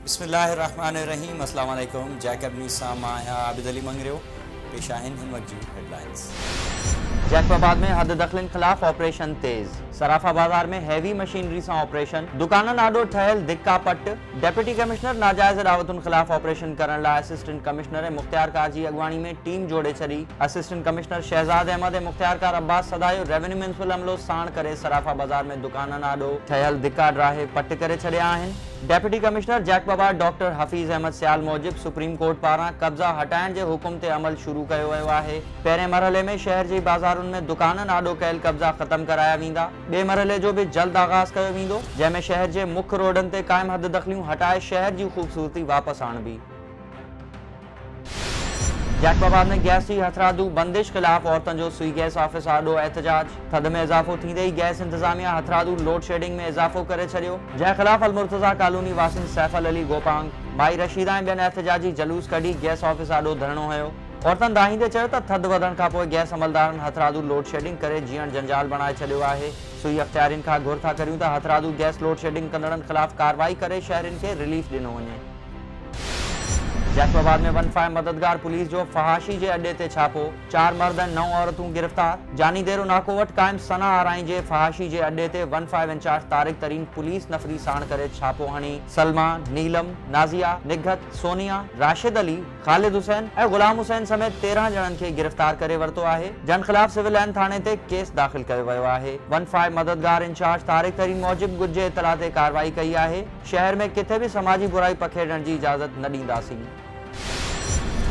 بسم الله الرحمٰن الرحيم السلام عليڪم جيڪب نيوز سان مان آهيان عابد علي مڱريو پيش آهن هن وقت جون هيڊلائنز جيڪب آباد ۾ حد دخلين خلاف آپريشن تيز صرافا بازار ۾ هيوي مشينري سان آپريشن دڪانن آڏو ٺهيل ڌڪا پٽ ڊپٽي ڪمشنر ناجائز ڏاوتن خلاف آپريشن ڪرڻ لاء اسسٽنٽ ڪمشنر ۽ مختيارڪار جي اڳواڻي ۾ ٽيم جوڙي ڇڏي، اسسٽنٽ ڪمشنر شهزاد احمد ۽ مختيارڪار عباس سدايو ريونيو ميونسپل عملو ساڻ ڪري صرافا بازار ۾ دڪانن آڏو ٺهيل ڌڪا ڊاهي پٽ ڪري ڇڏيا آهن. Deputy commissioner Jacobabad doctor Hafeez Ahmed Sial موجب سپريم ڪورٽ پاران قبضا هٽائڻ جي حڪم تي عمل شروع ڪيو ويو آهي، پهرين مرحلي ۾ شهر جي بازارن ۾ دڪانن آڏو ڪيل قبضا ختم ڪرايا ويندا. ٻئي مرحلي جو به جلد آغاز ڪيو ويندو، جنهن ۾ شهر جي مک روڊن تي قائم حد دخليون هٽائي شهر جي خوبصورتي واپس آڻبي. جيڪب آباد ۾ گئس جي هٿرادو بندش خلاف عورتن جو سوئي گئس آفيس آڏو احتجاج، ٿڌ ۾ اضافو ٿيندي ئي گئس انتظاميا هٿرادو لوڊ شيڊنگ ۾ اضافو ڪري ڇڏيو، جنهن خلاف المرتضيٰ ڪالوني واسين سيف العلي گوپانگ، مائي رشيده ۽ ٻين احتجاجي جلوس ڪڍي گئس آفيس آڏو ڌرڻو هنيو. عورتن دانهيندي چيو ته ٿڌ وڌڻ کان پوء گئس عملدارن هٿرادو لوڊ شيڊنگ ڪري جيئڻ جنجال بڻائي ڇڏيو آهي، سوئي اختيارين کان گهر ٿا ڪريون ته هٿرادو گئس لوڊ شيڊنگ ڪندڙن خلاف ڪارروائي ڪري شهرين کي رليف ڏنو وڃي. جيڪب آباد ۾ ون فائو مددگار پوليس جو فحاشي جي اڏي تي ڇاپو، چار مرد ۽ نو عورتون گرفتار، جاني ديرو ناڪو وٽ قائم ثنا آرائين جي فحاشي جي اڏي تي one five in charge Tariq Tareen police نفري ساڻ ڪري ڇاپو هڻي سلما، نيلم، نازيا، نگهت، سونيا، راشد علي، خالد حسين ۽ غلام حسين سميت تيرهن ڄڻن کي گرفتار ڪري ورتو آهي، جن خلاف سول لائن ٿاڻي تي ڪيس داخل ڪيو ويو آهي. ون فائو مددگار انچارج طارق ترين موجب ڳجهه جي اطلاع تي ڪارروائي ڪئي آهي، شهر ۾ ڪٿي به سماجي برائي پکيڙڻ جي اجازت نه ڏينداسين.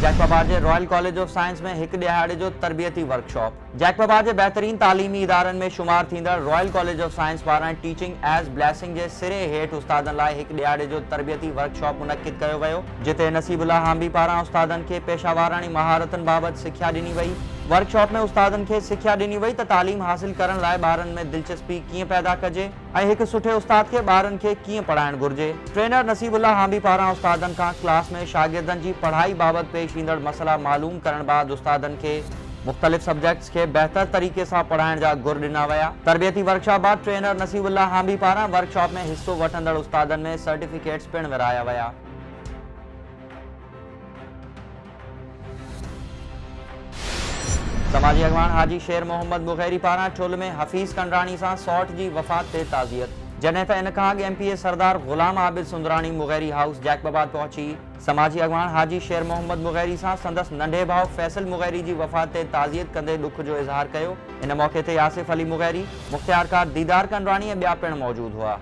جيڪب آباد جي رائل ڪاليج آف سائنس ۾ هڪ ڏهاڙي جو تربيتي ورڪشاپ. جيڪبابا جي بهترين تعليمي ادارن ۾ شمار ٿيندڙ رائل ڪاليج آف سائنس پاران ٽيچنگ ايز بليسنگ جي سري هيٺ استادن لاء هڪ ڏهاڙي جو تربيتي ورڪشاپ منعقد ڪيو ويو، جتي نصيب الله هانبي پاران استادن کي پيشه واراڻي مهارتن بابت سکيا ڏني وئي. ورڪشاپ ۾ استادن کي سکيا ڏني وئي ته تعليم حاصل ڪرڻ لاء ٻارن ۾ دلچسپي ڪيئن پيدا ڪجي. ۽ هڪ سٺي استاد کي ٻارن کي ڪيئن پڙهائڻ گهرجي. ٽرينر نصيب الله هانبي پاران استادن کان ڪلاس ۾ شاگردن جي پڙهائي بابت پيش ايندڙ مسئلا معلوم ڪرڻ بعد استادن کي مختلف سبجيڪٽس کي بهتر طريقي سان پڙهائڻ جا گر ڏنا ويا. تربيتي ورڪشاپ بعد ٽرينر نصيب الله هانبي پاران ورڪشاپ ۾ حصو وٺندڙ استادن ۾ سرٽيفڪيٽس پڻ ورهايا ويا. سماجي اڳواڻ حاجي شير محمد بغيري پاران ٺل ۾ حفيظ ڪنڊراڻي سان سئوٽ جي وفات تي تعزيت، جڏهن ته ان کان اڳ M P A Sardar Ghulam Abid Sundrani Mugheri house Jacobabad پهچي سماجي اڳواڻ حاجي شير محمد بغيري سان سندس ننڍي ڀاء فيصل مغيري جي وفات تي تعزيت ڪندي ڏک جو اظهار ڪيو ان موقعي تي آصف علي مغيري، مختيارڪار ديدار ڪنڊراڻي ۽ ٻيا پڻ موجود هئا.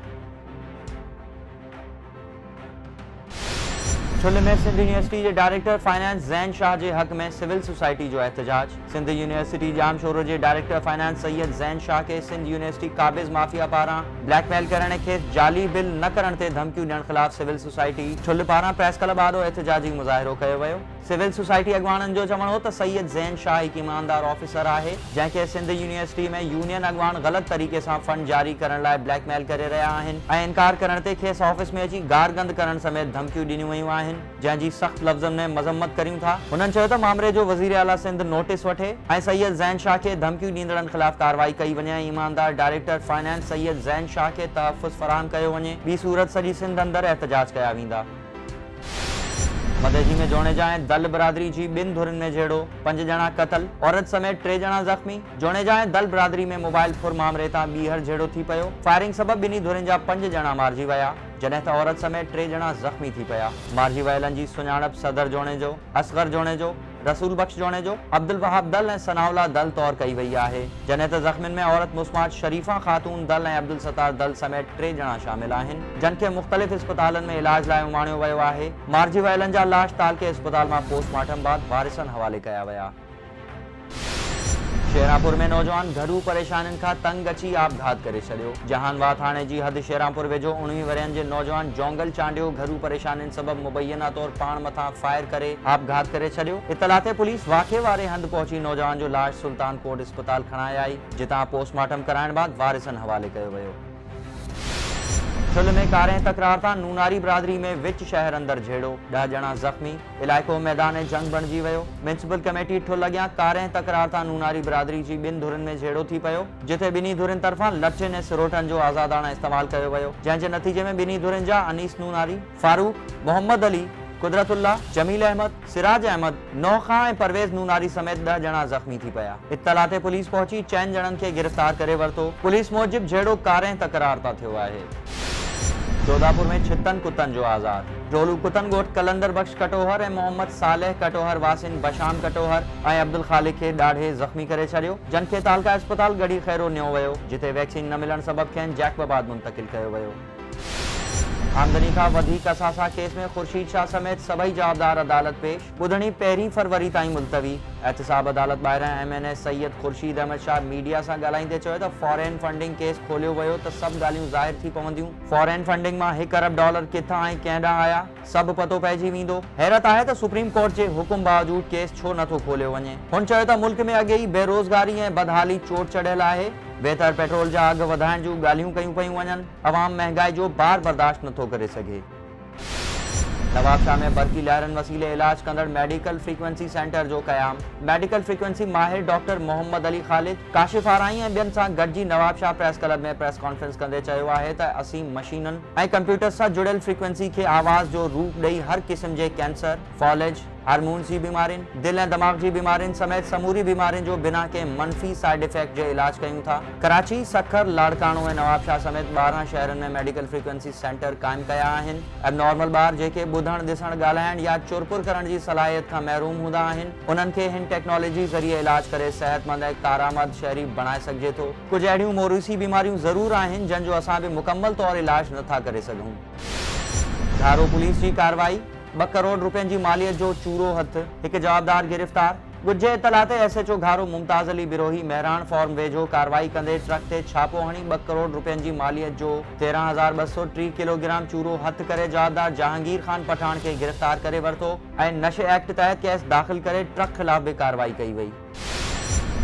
ٺلهه ۾ سنڌ يونيورسٽي جي ڊائريڪٽر فنانس زين شاهه جي حق ۾ سول سوسائٽي جو احتجاج، سنڌ يونيورسٽي ڄام شورو جي ڊائريڪٽر فنانس سيد زين شاهه کي سنڌ يونيورسٽي قابض مافيا پاران بليڪ ميل ڪرڻ ۽ کيس جعلي بل نه ڪرڻ تي ڌمڪيون ڏيڻ خلاف سول سوسائٽي ٺلهه پاران پريس ڪلب آڏو احتجاجي مظاهرو ڪيو ويو. سول سوسائٽي اڳواڻن جو چوڻ هو ته سيد زين شاهه هڪ ايماندار آفيسر آهي، جنهن کي سنڌ يونيورسٽي ۾ يونين اڳواڻ غلط طريقي سان فنڊ جاري ڪرڻ لاء بليڪ ميل ڪري رهيا آهن ۽ انڪار ڪرڻ تي کيس آفيس ۾ اچي گار گند ڪرڻ سميت ڌمڪيون ڏنيون ويون آهن، جنهن جي سخت لفظن ۾ مذمت ڪريون ٿا. هنن چيو ته مامري جو وزير اعليٰ سنڌ نوٽيس وٺي ۽ سيد زين شاهه کي ڌمڪيون ڏيندڙن خلاف ڪارروائي ڪئي وڃي ۽ ايماندار ڊائريڪٽر فنانس سيد زين شاهه کي تحفظ فراهم ڪيو وڃي، ٻي صورت سڄي سنڌ اندر احتجاج ڪيا ويندا. مدئجي ۾ جوڻيجا ۽ دل برادري جي ٻن ڌرين ۾ جهيڙو، پنج ڄڻا قتل، عورت سميت ٽي ڄڻا زخمي، جوڻيجا ۽ دل برادري ۾ موبائل ڦر مامري تان ٻيهر جهيڙو ٿي پيو، فائرنگ سبب ٻنهي ڌرين جا پنج ڄڻا مارجي ويا، جڏهن ته عورت سميت ٽي ڄڻا زخمي ٿي پيا، مارجي ويلن جي سڃاڻپ صدر جوڻيجو، اصغر جوڻيجو، رسول بخش جوڻيجو، عبدالوهاب دل ۽ ثناء الله دل طور ڪئي وئي آهي، جڏهن ته زخمين ۾ عورت مسماٽ شريفه خاتون دل ۽ عبدالستار دل سميت ٽي ڄڻا شامل آهن، جن کي مختلف اسپتالن ۾ علاج لاء اماڻيو ويو آهي، مارجي ويلن جا لاش تعلقي اسپتال مان پوسٽ مارٽم بعد وارثن حوالي ڪيا ويا. شيرانپور ۾ نوجوان گهرو پريشانين کان تنگ اچي آپگهات ڪري ڇڏيو، جهان واهه ٿاڻي جي حد شيرانپور ويجهو اڻويهه ورهين جي نوجوان جونگل چانڊيو گهرو پريشانين سبب مبينا طور پاڻ مٿان فائر ڪري آپگهات ڪري ڇڏيو. اطلاع تي پوليس واقعي واري هنڌ پهچي نوجوان جو لاش سلطان ڪوٽ اسپتال کڻائي آئي، جتان پوسٽ مارٽم ڪرائڻ بعد وارثن حوالي ڪيو ويو. ٺل ۾ ڪارينهن تڪرار تان نوناري برادري ۾ وچ شهر اندر جهيڙو، ڏهه ڄڻا زخمي، علائقو ميدان جنگ بڻجي ويو، ميونسپل ڪميٽي ٺل اڳيان ڪارينهن تڪرار تان نوناري برادري جي ٻن ڌرين ۾ جهيڙو ٿي پيو، جتي ٻنهي ڌرين طرفان لٺين ۽ سروٽن جو آزاداڻه استعمال ڪيو ويو، جنهن جي نتيجي ۾ ٻنهي ڌرين جا انيس نوناري، فاروق، محمد علي، قدرت الله، جميل احمد، سراج احمد، نوح خان ۽ پرويز نوناري سميت ڏهه ڄڻا زخمي ٿي پيا. اطلاع تي پوليس پهچي چئن ڄڻن کي گرفتار ڪري ورتو. پوليس موجب جهيڙو ڪارينهن تڪرار تان ٿيو آهي. جوڌاپور ۾ ڇتن ڪتن جو آزار، ڊولو ڪتن ڳوٺ قلندر بخش ڪٽوهر ۽ محمد صالح ڪٽوهر واسين بشام ڪٽوهر، ۽ عبدالخالق کي ڏاڙهي زخمي ڪري ڇڏيو، جن کي تعلقه اسپتال ڳڙهي خيرو نيو ويو، جتي ويڪسين نه ملڻ سبب کين جيڪب آباد منتقل ڪيو ويو. آمدني کان وڌيڪ اثاثا ڪيس ۾ خورشيد شاهه سميت سڀئي جوابدار عدالت پيش، ٻڌڻي پهرين فروري تائين ملتوي، احتساب عدالت ٻاهران M N A Syed Khursheed Ahmed Shah media سان ڳالهائيندي چيو ته فارين فنڊنگ ڪيس کوليو ويو ته سڀ ڳالهيون ظاهر ٿي پونديون، فارين فنڊنگ مان هڪ ارب ڊالر ڪٿان ۽ ڪنهن ڏانهن آيا؟ سڀ پتو پئجي ويندو. حيرت آهي ته سپريم ڪورٽ جي حڪم باوجود ڪيس ڇو نه ٿو کوليو وڃي. هن چيو ته ملڪ ۾ اڳي ئي بيروزگاري ۽ بدحالي چوٽ چڙهيل آهي، ويتر پيٽرول جا اگهه وڌائڻ جون ڳالهيون ڪيون پيون وڃن، عوام مهنگائي جو بار برداشت نه ٿو ڪري سگهي. نوابشاهه ۾ برقي لهرن وسيلي علاج ڪندڙ ميڊيڪل فريڪوئنسي سينٽر جو قيام، ميڊيڪل فريڪوئنسي ماهر ڊاڪٽر محمد علي خالد، ڪاشف آرائين ۽ ٻين سان گڏجي Nawabshah press club ۾ press conference ڪندي چيو آهي ته اسين مشينن، ۽ ڪمپيوٽر سان جڙيل فريڪوئنسي کي آواز جو روپ ڏئي هر قسم جي ڪينسر، فالج، هارمونز جي بيمارين، دل ۽ دماغ جي بيمارين سميت سموري بيمارين جو بنا ڪنهن منفي سائيڊ افيڪٽ جي علاج ڪيون ٿا. ڪراچي، سکر، لاڙڪاڻو ۽ نوابشاهه سميت ٻارهن شهرن ۾ ميڊيڪل فريڪوئنسي سينٽر قائم ڪيا آهن. اب نارمل ٻار جيڪي ٻڌڻ، ڏسڻ، ڳالهائڻ يا چرپر ڪرڻ جي صلاحيت کان محروم هوندا آهن، انهن کي هن ٽيڪنالاجي ذريعي علاج ڪري صحتمند ۽ ڪارآمد شهري بڻائي سگهجي ٿو. ڪجهه اهڙيون موروثي بيماريون ضرور آهن جن جو اسان به مڪمل طور علاج نه ٿا ڪري سگهون. ڌارو پوليس جي ڪارروائي، ٻه ڪروڙ رپين جي ماليت جو چورو هٿ، هڪ جوابدار گرفتار، ڳجهي اطلاع تي S H O Gharo Mumtaz Ali Brohi Mehran farm ويجهو ڪارروائي ڪندي ٽرڪ تي ڇاپو هڻي ٻه ڪروڙ رپين جي ماليت جو تيرهن هزار ٻه سؤ ٽيهه ڪلوگرام چورو هٿ ڪري جوابدار جهانگير خان پٺاڻ کي گرفتار ڪري ورتو ۽ نشي ايڪٽ تحت ڪيس داخل ڪري ٽرڪ خلاف به ڪارروائي ڪئي وئي.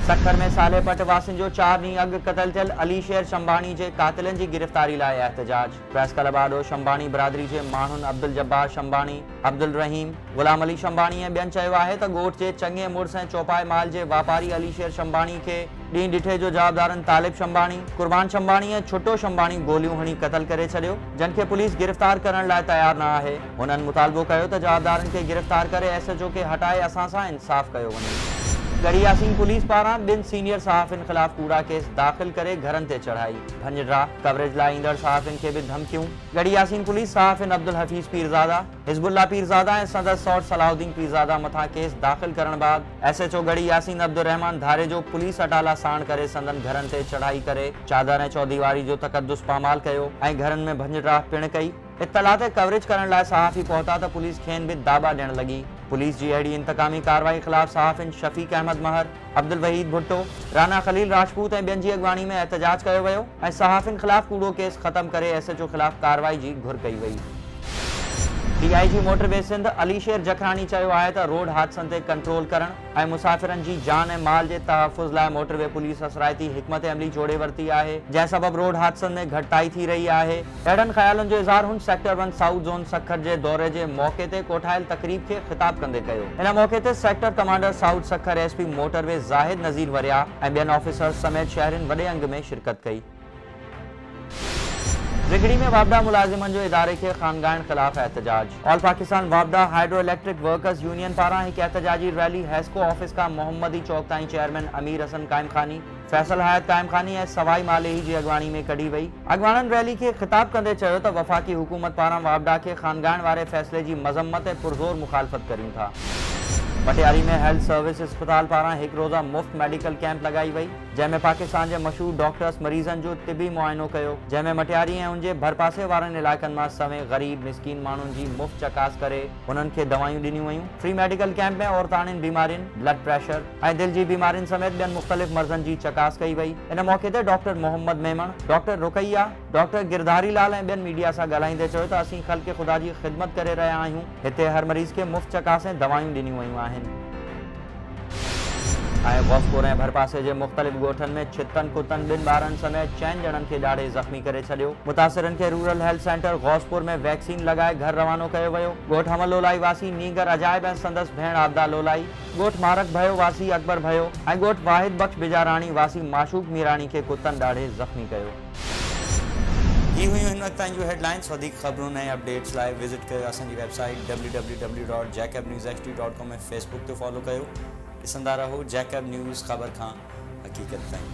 سکر ۾ صالح پٽ واسين جو چار ڏينهن اڳ قتل ٿيل علي شير شنباڻي جي قاتلن جي گرفتاري لاء احتجاج، پريس ڪلب آڏو شنباڻي برادري جي ماڻهن عبدالجبار شنباڻي، عبدالرحيم، غلام علي شنباڻي ۽ ٻين چيو آهي ته ڳوٺ جي چڱي مڙس ۽ چوپائي مال جي واپاري علي شير شنباڻي کي ڏينهن ڏٺي جو جوابدارن طالب شنباڻي، قربان شنباڻي ۽ ڇٽو شنباڻي گوليون هڻي قتل ڪري ڇڏيو جن کي پوليس گرفتار ڪرڻ لاء تيار نه آهي. هنن مطالبو ڪيو ته جوابدارن کي گرفتار ڪري ايس ايچ او کي هٽائي اسان سان انصاف ڪيو وڃي. ڳڙهي ياسين پوليس پاران ٻن سينيئر صحافين خلاف ڪوڙا ڪيس داخل ڪري گهرن تي چڙهائي، ڀڃ ڊرا، ڪوريج لاء ايندڙ صحافين کي به ڌمڪيون، ڳڙهي ياسين پوليس صحافين عبدالحفيظ پيرزاده، حزب الله پيرزاده ۽ سندس سئوٽ صلاح الدين پيرزاده مٿان ڪيس داخل ڪرڻ بعد S H O Garhi Yasin Abdulrahman Dharejo police اٽالا ساڻ ڪري سندن گهرن تي چڙهائي ڪري چادر ۽ چوديواري جو تقدس پامال ڪيو ۽ گهرن ۾ ڀڃ ڊرا پڻ ڪئي. اطلاع تي ڪوريج ڪرڻ لاء صحافي پهتا ته پوليس کين به داٻا ڏيڻ لڳي. پوليس جي اهڙي انتقامي ڪارروائي خلاف صحافين شفيق احمد مهر، عبدالوحيد ڀٽو، رانا خليل راجپوت ۽ ٻين جي اڳواڻي ۾ احتجاج ڪيو ويو ۽ صحافين خلاف ڪوڙو ڪيس ختم ڪري ايس ايچ او خلاف ڪارروائي جي گهر ڪئي وئي. D I G motorway Sindh Ali Sher Jakhrani چيو آهي ته روڊ حادثن تي ڪنٽرول ڪرڻ ۽ مسافرن جي جان ۽ مال جي تحفظ لاء موٽر وي پوليس اثرائتي حڪمت عملي جوڙي ورتي آهي جنهن سبب روڊ حادثن ۾ گهٽتائي ٿي رهي آهي. اهڙن خيالن جو اظهار هن sector one south zone Sukkur جي دوري جي موقعي تي ڪوٺايل تقريب کي خطاب ڪندي ڪيو. ان موقعي تي sector commander south Sukkur S P motorway Zahid Nazir Waryah ۽ ٻين آفيسرز سميت شهرين وڏي انگ ۾ شرڪت ڪئي. زگڙي ۾ واپڊا ملازمن جو اداري کي خانگائڻ خلاف احتجاج. آل پاڪستان واپڊا هائيڊرو اليڪٽرڪ ورڪرز يونين پاران هڪ احتجاجي ريلي حيسڪو آفيس کان محمدي چوڪ تائين چيئرمين امير حسن قائم خاني، فيصل حيات قائم خاني ۽ سوائي مالهي جي اڳواڻي ۾ ڪڍي وئي. اڳواڻن ريلي کي خطاب ڪندي چيو ته وفاقي حڪومت پاران واپڊا کي خانگائڻ واري فيصلي جي مذمت ۽ پرزور مخالفت ڪريون ٿا. پٽياري ۾ هيلٿ سروس اسپتال پاران هڪ روزه مفت ميڊيڪل ڪيمپ لڳائي وئي جنهن ۾ پاڪستان جي مشهور ڊاڪٽرس مريضن جو طبي معائنو ڪيو جنهن ۾ مٽياري ۽ ان جي ڀرپاسي وارن علائقن مان سوين غريب مسڪين ماڻهن جي مفت چڪاس ڪري انهن کي دوائيون ڏنيون ويون فري ميڊيڪل ڪيمپ ۾ عورتاڻين بيمارين بلڊ پريشر ۽ دل جي بيمارين سميت ٻين مختلف مرضن جي چڪاس ڪئي وئي. ان موقعي تي doctor Muhammad Memon, doctor Ruqaiya, doctor Girdhari Lal ۽ ٻين ميڊيا سان ڳالهائيندي چيو ته اسين خلق خدا جي خدمت ڪري رهيا آهيون، هتي هر مريض کي مفت چڪاس ۽ دوائيون ڏنيون ويون آهن. ۽ غوثپور ۽ ڀرپاسي جي مختلف ڳوٺن ۾ ڇتن ڪتن ٻن ٻارن سميت چئن ڄڻن کي ڏاڙهي زخمي ڪري ڇڏيو. متاثرن کي rural health centre Ghauspur ۾ vaccine لڳائي گهر روانو ڪيو ويو. ڳوٺ حمل لولائي واسي نينگر عجائب ۽ سندس ڀيڻ عابده لولائي، ڳوٺ مارڪ ڀيو واسي اڪبر ڀيو ۽ ڳوٺ واحد بخش بجاراڻي واسي معشوق ميراڻي کي ڪتن ڏاڙهي زخمي ڪيو. هي هيون هن وقت تائين جون هيڊ لائنز وڌيڪ خبرون ۽ اپڊيٽس لاء وزٽ ڪيو اسان جي website W W W dot Jacob news H D dot com ۽ Facebook تي فالو ڪيو ڏسندا رهو جيڪب نيوز خبر کان حقيقت تائين.